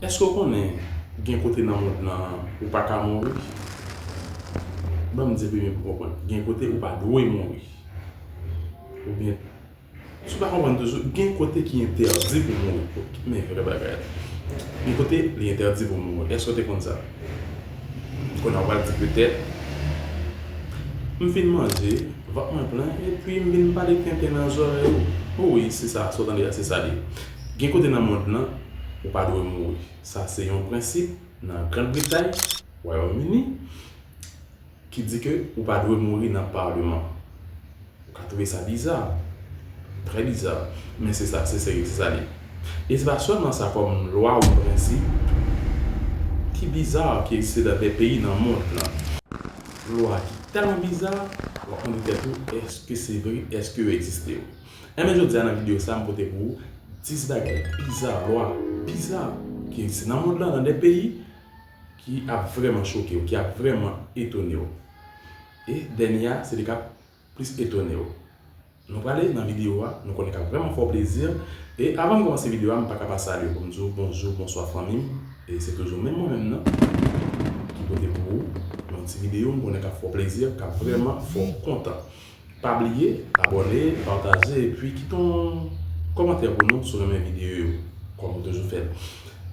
Èske w konnen gen kote nan mond lan an ou pa ka mouri? Ban m di pi byen pou w konprann, gen kote ou pa dwe mouri. Oubyen, si w pa konprann toujou, gen kote ki entèdi pou w mouri. Men vrè bagay la. Gen kote li entèdi pou w mouri. Èske w te konn sa? Kounye a ou pral di petèt, M fin manje, vant mwen plen, epi m vin pale tenten nan zòrèy ou. Wi, se sa, sa w tande a, se sa l ye. Gen kote nan mond lan ou pa dwe mouri. Sa se yon prensip nan Grand Bretay, Wayòm Ini, ki di ke ou pa dwe mouri nan Parlement. Ou ka twouve sa biza, trè biza, men se sa, se seri, se sa li. E se pa sèlman sa kòm lwa ou prensip ki biza ki egziste nan de peyi nan mond lan. Lwa ki tèlman biza, wap mande tèt ou, eske se vre, eske yo egziste? Enben jodia nan video sa m pote pou ou 10 bagay biza, lwa biza ki egziste nan mond lan nan 2 peyi ki ap vrèman chokew, ki ap vrèman etonew. E dènye a se li kap plis etonew. Nou prale nan video a, nou konnen kap vrèman fè w plezi. E avan m kòmanse video a m paka pa salye w pou m di w bonjou, bonswa fanmi m. E se toujou menm mwen menm nan ki pote pou ou yon ti video m konnen kap fè w plezi, kap vrèman fè w kontan. Pa bliye abòne, pataje epi kite yon kòmantè pou nou si w renmen videyo yo kòm ou toujou fè l.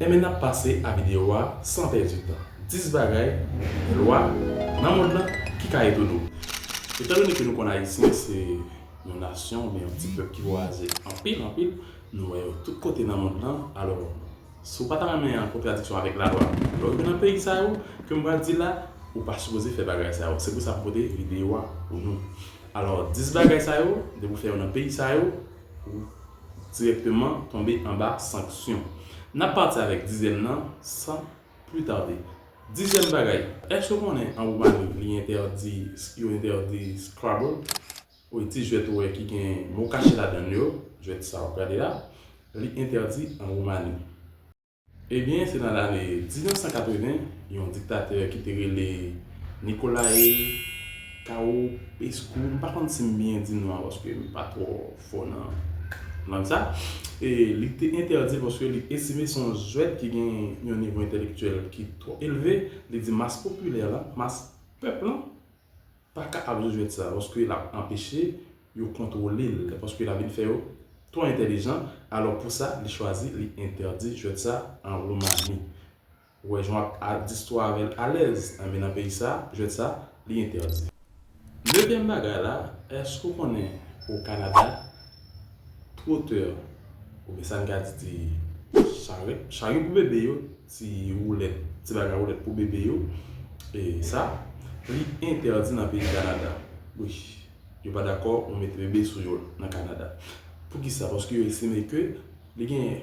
Enben n ap pase a videyo a san pèdi tan. 10 bagay, lwa, nan mond lan ki ka etone w. Etandone ke nou konn Ayisyen se yon nasyon oubyen yon ti pèp ki vwayaje anpil anpil, nou wè yo tout kote nan mond lan, alò Si ou pa ta renmen an kontradiksyon avèk lalwa lè ou rive nan peyi sa yo ke m pral di la, ou pa sipoze fè bagay sa yo. Se pou sa m pote videyo a pou nou. Alò, 10 bagay sa yo, depi ou fè yo nan peyi sa yo, ou dirèkteman tonbe anba sanksyon. N ap pati avèk dizyèm nan san pli tarde. Dizyèm bagay, èske ou konnen an Woumani li entèdi, yo entèdi Scrabble? Woy ti jwèt ou wè ki gen mo kache ladann yo, jwèt sa wap gade a, li entèdi an Woumani. Ebyen se nan lane 1980 yon diktatè ki te rele Nicolae Caopescu, m pa konn si m byen di non an paske m pa twò fò nan lang sa, li te entèdi paske li estime se yon jwèt ki gen yon nivo entèlektyèl ki twò elve, li di mas popilè lan, mas pèp lan, pa ka ap jwe jwèt sa paske lap anpeche yo kontwole l paske lap vin fè yo twò entèlijan alò pou sa li chwazi li entèdi jwèt sa an Roumani ou wè jan w ap distwa avè l alèz anben nan peyi sa jwèt sa li entèdi. Neuvième bagay la èske ou konnen o Kanada twotè oubyen sa n ka di ti charèt charyo pou bebe yo. Ti woulèt, ti bagay woulèt pou bebe yo, e sa, li entèdi nan peyi Kanada. Wi, yo pa dakò ou mete bebe sou yo nan Kanada. Poukisa? Paske yo estime ke li gen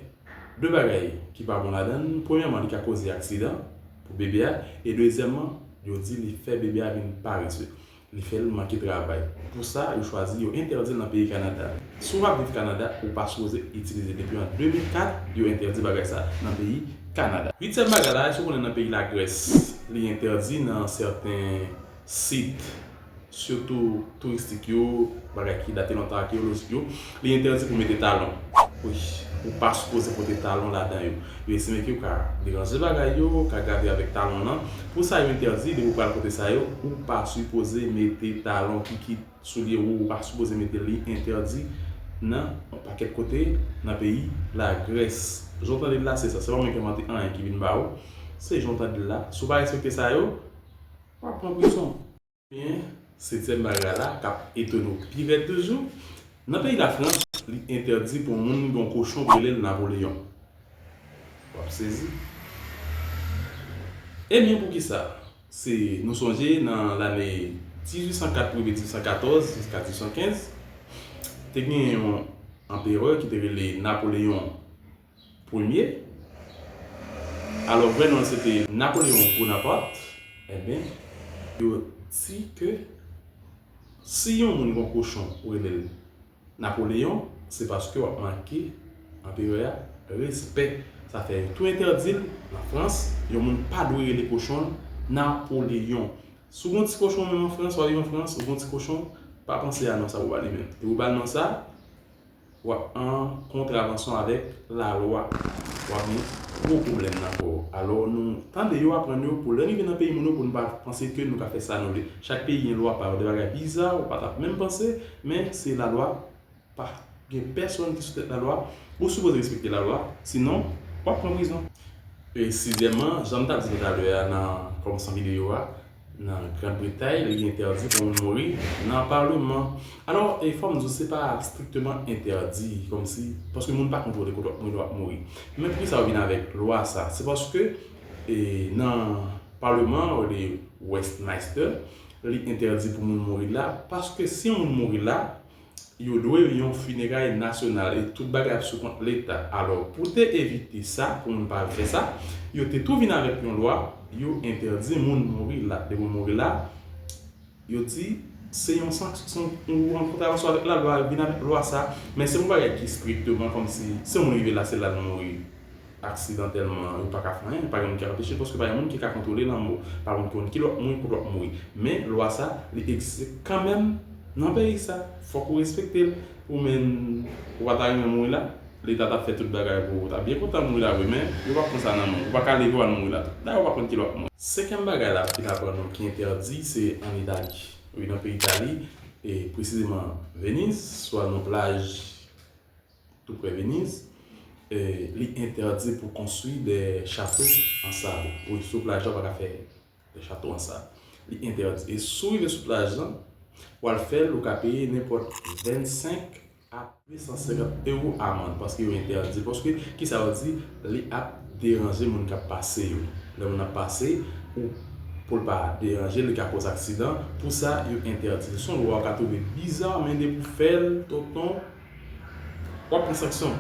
2 bagay ki pa bon ladan l, premyèman li ka koze aksidan pou bebe a, e dezyèmman yo di li fè bebe a vin parese. Li fè l manke travay. Pou sa, yo chwazi yo entèdi l nan peyi Kanada. Si w ap viv Kanada, ou pa sipoze itilize. Depi an 2004, yo entèdi bagay sa nan peyi Kanada. Uityèm bagay la, èske w konnen nan peyi Lagrès, li entèdi nan sèten sit, sitou touristik yo, bagay ki date lontan, akeyolojik yo. Li entèdi pou mete talon. Wi. Ou pa sipoze pote talon ladan yo. Yo estime ke ou ka deranje bagay yo, ou ka grave avèk talon lan. Pou sa yo entèdi, depi ou pral pote sa yo, ou pa sipoze mete talon, kikit, soulye wou, ou pa sipoze mete li entèdi nan yon pakèt kote nan peyi Lagrès. Jan w tande l la se sa. Se pa mwen ki envante anyen ki vin ba ou. Se jan w tande l la. Si w pa respekte sa yo, w ap pran prizon. Men, setyèm bagay la k ap etone w pi rèd toujou, nan peyi Lafrans, li entèdi pou moun gen yon kochon pou rele l Napoleyon. W ap sezi. Ebyen poukisa? Se nou sonje nan lane 1804 rive 1814 jiska 1815, te gen yon anperè ki te rele Napoleyon Premye. Alò vrè non l se te Napoléon Bonaparte. Enben, yo di ke si yon moun gon kochon ou rele l Napoléon, se paske w ap manke anperè a respè. Sa fè yo tou entèdi l an Frans. Yon moun pa dwe rele kochon l Napoléon. Si w gon ti kochon menm an Frans, w ale an Frans, w gon ti kochon, pa panse a non sa pou w ba li menm. E pou w ba l non sa, w ap an kontravansyon avèk lalwa, w ap gen gwo pwoblèm nan kò w. Alò, nou tande yo aprann yo pou lè n rive nan peyi moun yo pou n pa panse ke nou ka fè sa nou vle. Chak peyi gen lwa pa yo. De bagay biza ou pa t ap menm panse, men se lalwa. Pa gen pèsonn ki sou tèt lalwa. Ou sipoze respekte lalwa, sinon w ap pran prizon. E sizyèmman, jan m t ap di nou talè a nan kòmansman videyo a, Nan Grand Bretay, li entèdi pou moun mouri nan Parleman. Alò, e fò m di w, se pa strikteman entèdi, kòm si, paske moun pa kontwole kote w ap mouri lè w ap mouri. Men pou ki sa yo vin avèk lwa sa? Se paske e nan Parleman an, rele Westminster, li entèdi pou moun mouri la, paske si yon moun mouri la, yo dwe yon fineray nasyonal e tout bagay ap sou kont leta. Alò pou te evite sa, pou moun pa al fè sa, yo te tou vin avèk yon lwa, yo entèdi moun mouri la. Depi w mouri la, yo di se yon sanksyon, ou an kontravansyon avèk lalwa, yo vin avèk lwa sa. Men se yon bagay ki strikteman kòmsi, si yon moun rive la, se la l mouri. Aksidantèlman, yo pa ka fè anyen, pa gen moun ki ap anpeche l, paske pa gen moun ki ka kontwole lanmò. Pa moun ki konn ki lòt moun pou lòt mouri. Men, lwa sa, li egziste kanmenm nan peyi sa. Fòk ou respekte l. Ou menn, ou pa ta renmen mouri la? Leta t ap fè tout bagay pou ou ta byen kontan mouri la vre, men, yo p ap pran sa nan men w. Ou pa ka leve w al mouri la tou. Dayè, ou pa konn ki lè w ap mouri. Senkyèm bagay la ki ta pran nou ki entèdi, se ann Itali. Wi, nan peyi Itali, e presizeman Veniz, sou ann yon plaj. Toupre Veniz, li entèdi pou konstwi de chato an sab. Wi, sou plaj la ou pa ka fè de chato an sab. Li entèdi. E si w rive sou plaj lan, pou al fè l, ou ka peye nenpòt 25 a 250 ewo amann paske yo entèdi l. Paske, ki sa yo di? Li ap deranje moun k ap pase yo. Lè moun ap pase, ou, pou l pa deranje l, li ka koz aksidan. Pou sa, yo entèdi l. Se yon lwa ou ka twouve biza, men depi w fè l, tonton, Wap pran sanksyon,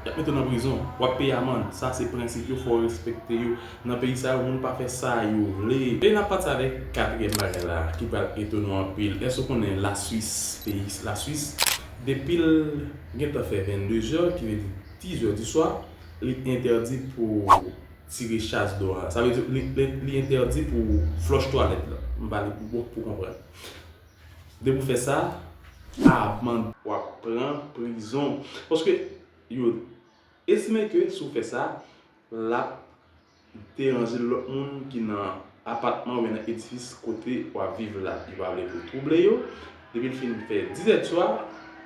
yap mete w nan prizon, wap peye amand, sa se prensip yo fòw respekte yo, nan peyi sa yo moun pa fè sa yo vle. E nap pati avèk katriyèm bagay la ki pral etone w anpil, èske ou konnen la swis peyi la swis depil gentan fè 22 zè ki vle di 10 zè di swa li entèdi pou tire chas do a sa vle di li entèdi pou flòch twalèt la m pale pou konprann. Depi ou fè sa avan. Wap pran prizon. Paske yo estime ke si ou fè sa lap deranje lòt moun ki nan apatman oubyen nan edifis kote wap viv la. Yo pa vle pou ou twouble yo. Depi li fin fè dizèd swa,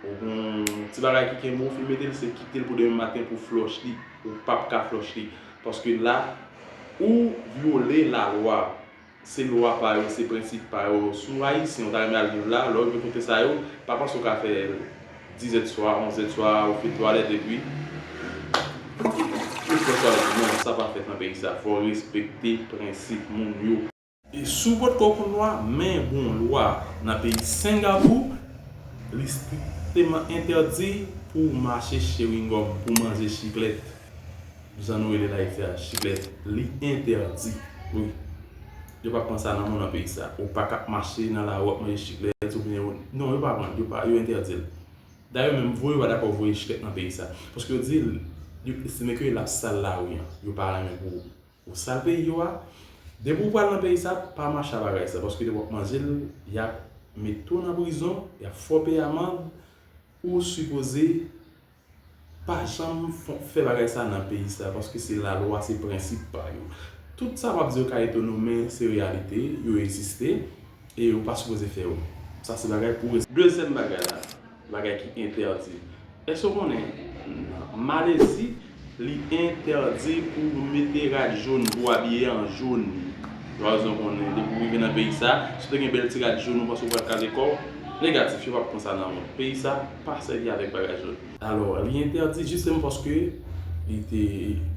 ou gen yon ti bagay ki kenbe ou fin mete l se kite l pou demen maten pou flòch li. Ou pap ka flòch li. Paske la ou vyole lalwa. Se lwa pa yo, se prensip pa yo. Si w Ayisyen, w ta renmen al viv la, lè w rive kote sa yo, pa panse w ka fè dizèdswa, onzèdswa, ou fè twalèt epi ou fè twalèt ou. Non, sa pa fèt nan peyi sa. Fò w respekte prensip moun yo. E si w potko konn lwa, men gen yon lwa nan peyi Sengapou, li strikteman entèdi pou w mache chewingòm, pou w manje chiklèt. Jan nou rele l ayiti a jilèt li entèdi wi yo pa pran sa nan mou nan peyi sa ou pa ka mache nan lari wap manje jilèt ou byen non yo pa vann yo pa yo entèdi l dayè menm voye yo pa dakò voye jilèt nan peyi sa paske yo di yo estime ke lap sal lari an yo pa renmen pou ou sal peyi yo a depi ou pral nan peyi sa pa mache a bagay sa paske lè wap manje l yap mete w nan prizon yap fè w peye amand ou sipoze pa janm fè bagay sa nan peyi sa paske se lalwa se prensip pa yo tout sa wap di yo ka etonew men se reyalite yo egziste e yo pa sipoze fè yo sa se bagay pou Dezyèm bagay la bagay ki entèdi èske ou konnen nan malezi li entèdi pou mete rad jón pou abiye an jón lwa rezon konnen depi ou rive nan peyi sa si ou te gen bèl ti rad jón ou panse ou pral kraze kòw negatif yo pap pran sa nan peyi sa. pa sèvi avèk bagay jaune. Alò, li entèdi jisteman paske li te,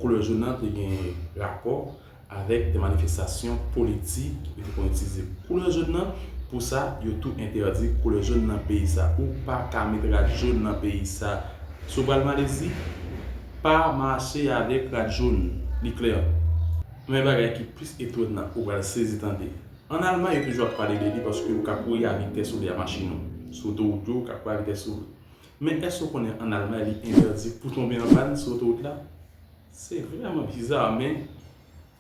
koulè jaune nan te gen rapò avèk de manifestasyon politik, yo te konn itilize koulè jaune nan pou sa, yo tou entèdi koulè jaune nan peyi sa. Ou pa ka met rad jaune nan peyi sa. Si w pral Malezi, pa mache avèk rad jaune. Li klè. Men bagay ki plis etonnant ou pral sezi tande. An Alman yo toujou ap pale de li paske ou ka kouri a vitès ou vle a machin ou. Sou otowout yo ou ka kouri a vitès ou vle. Men èske ou konnen an Almay li entèdi pou tonbe an pàn sou otowout la? Se vrèman biza men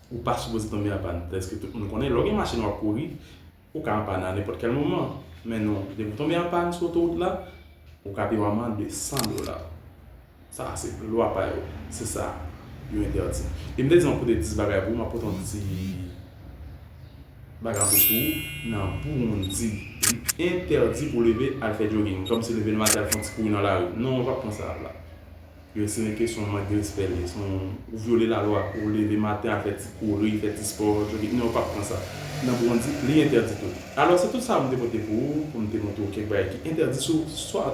ou pa sipoze tonbe an pàn. Prèske tout moun konnen lè w gen machin wap kouri ou ka an pàn a nenpòt kèl moman. Men non, depi w tonbe an pàn sou otowout la, ou ka pi w aman 200 dola. Sa a se lwa pa yo. Se sa yo entèdi. E m te di yon kote 10 bagay pou ou, m ap pote yon ti bagay an plis pou ou. Nan Burundi, li entèdi pou w leve al fè jogging, kòmsi leve nan maten al fè yon ti kouri nan lari. Non, ou pa p pran sa la. Yo estime ke se yon mank de respè li ye. Se yon, ou vyole lalwa. Ou leve maten al fè ti kouri, fè ti spò, jogging. Non, yo pa p pran sa. Nan Burundi, li entèdi tou. Alò, se tout sa a m te pote pou ou, pou m te montre ou kèk bagay ki entèdi sou, swa,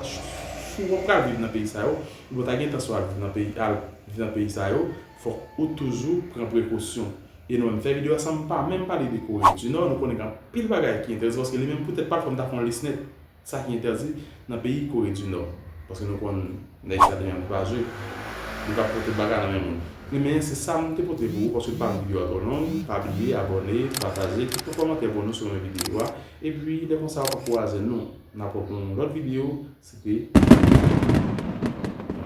Si ou pral viv nan peyi sa yo, ou pa ta gen entansyon al viv nan peyi al viv nan peyi sa yo, fòk ou toujou pran prekosyon. E nou menm fè video a san pa menm pale de Kore di Nò, nou konnen gen anpil bagay ki entèdi paske li menm pou tèt pa l fòk m ta fè yon lis nèt sa ki entèdi nan peyi Kore di Nò. Paske nou konn nèg sa gen yon ti pa zwe, li pa pou tout bagay nan men moun. E men se sa m te pote pou ou paske m pa vle video a twò long, pa bliye abòne, pataje, kite yon kòmantè pou nou si w renmen video a, epi lè konsa ou pa kouraje nou. N ap reprann yon lòt videyo, se te.